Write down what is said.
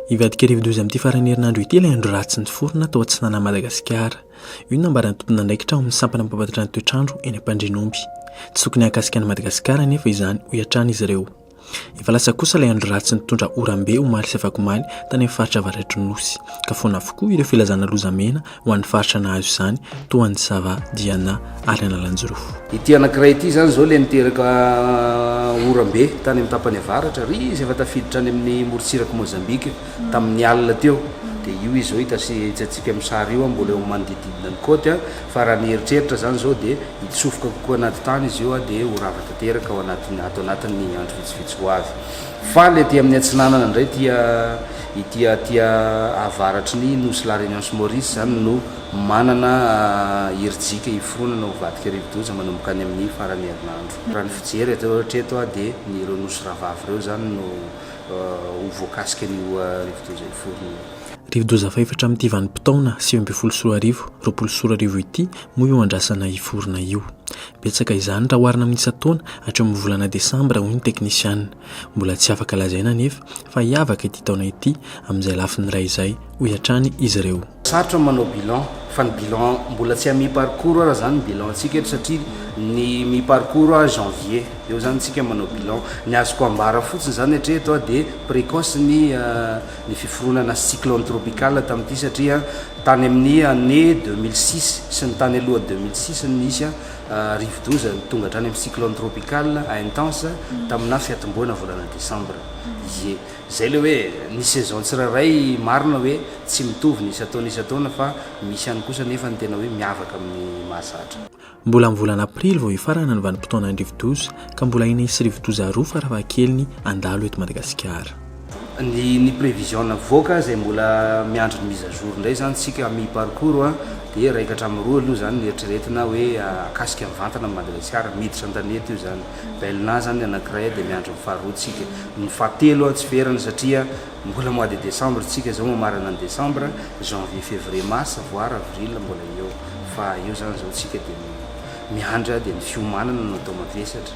Hivadika rivodoza amin'ity faran'ny herinandro ity ilay andro ratsy niforona tao atsinanan'i Madagasikara. Io nambaran'ny tomponandraikitra ao amin'ny sampana mampahafantatra ny toetrandro eny Ampandrinomby. Tsy tokony hahakasika an'i Madagasikara anefa izany, hoy hatrany izy ireo. Efa lasa kosa ilay andro ratsy nitondra oram-be omaly sy afakomaly tany amin'ny faritra avaratry ny Nosy, ka foana avokoa ireo filazana lozamena ho an'ny faritra nahazo izany toa an'i Sava, Diana ary Analanjirofo. Ity anankiray ity izany izao ilay niteraka oram-be tany amin'ny tapany avaratra, ary izy efa tafiditra any amin'ny morontsirak'i Mozambika tamin'ny alina teo. Dia io izy izao hitantsika amin'ny sary io, mbola eo amin'ny manodididina ny côte. Fa raha mieritreritra izany izao dia hitsofoka kokoa anaty tany izy io dia ho rava tanteraka ao anatin'ny ato anatin'ny andro vitsivitsy ho avy. Faly aty amin'ny atsinanana indray tia ity aty avaratry ny nosy La Réunion sy Maurice izany no manana hirijika hiforonana ho vadika rivodoza manomboka any amin'ny faran'ny herinandro. Raha ny fijery avy eo hatreto dia ny ireo nosy rahavavy ireo izany no ho voakasika an'io rivodoza hiforonana io. Rivodoza faefatra amin'ity vanim-potoana sivy ambin'ny folo sy roa arivo, roapolo sy roa arivo ity moa io andrasana hiforona io. Betsaka izany raha oharina amin'ny isan-taona hatreo amin'ny volana desambra, hoy ny teknisiana. Mbola tsy afaka lazaina anefa fa hiavaka ity taona ity amin'izay lafiny iray izay, hoy hatrany izy ireo. Sarotra ny manao bilan fa ny bilan mbola tsy à mi parcours ary zany ny bilan antsika eto satria ny mi parcours a janvier eo zany tsika manao bilan ny azoko ambara fotsiny zany hatreto a de precoce ny ny fiforonana cyclone tropical tamin'ity satria tany amin'ny année deux mille six sy ny tany aloha deux mille six no nisy rivodoza tonga hatrany amin'ny cyclone tropical intense taminà fiatombohana volana décembre ie zay le hoe ny saison tsirairay marina hoe tsy mitovy ny isan-taona isan-taona fa misy ihany kosa nefa ny tena hoe miavaka amin'ny mahazatra Mbola amin'ny volana aprily vao hifarana ny vanim-potoana ny rivodoza ka mbola enina sy rivodoza roa farafahakeliny handalo eto Madagasikara. Ny ny prévision navoaka izay mbola miandry ny mise à jour indray izany isika à mi parcours an, dia iraika hatramin'ny roa aloha izany ny eritreretina hoe akasika mivantana amin'i Madagasikara, miditra an-tanety io izany. Belna izany ny anankiray dia miandry ny faharoa tsika. Ny fahatelo tsy ferana satria Mbola mois de décembre tsika zao mamarana ny décembre, janvier, février, mars, voir avril mbola eo fa eo zany zao tsika de miandry dia ny fiomanana no atao mavesatra.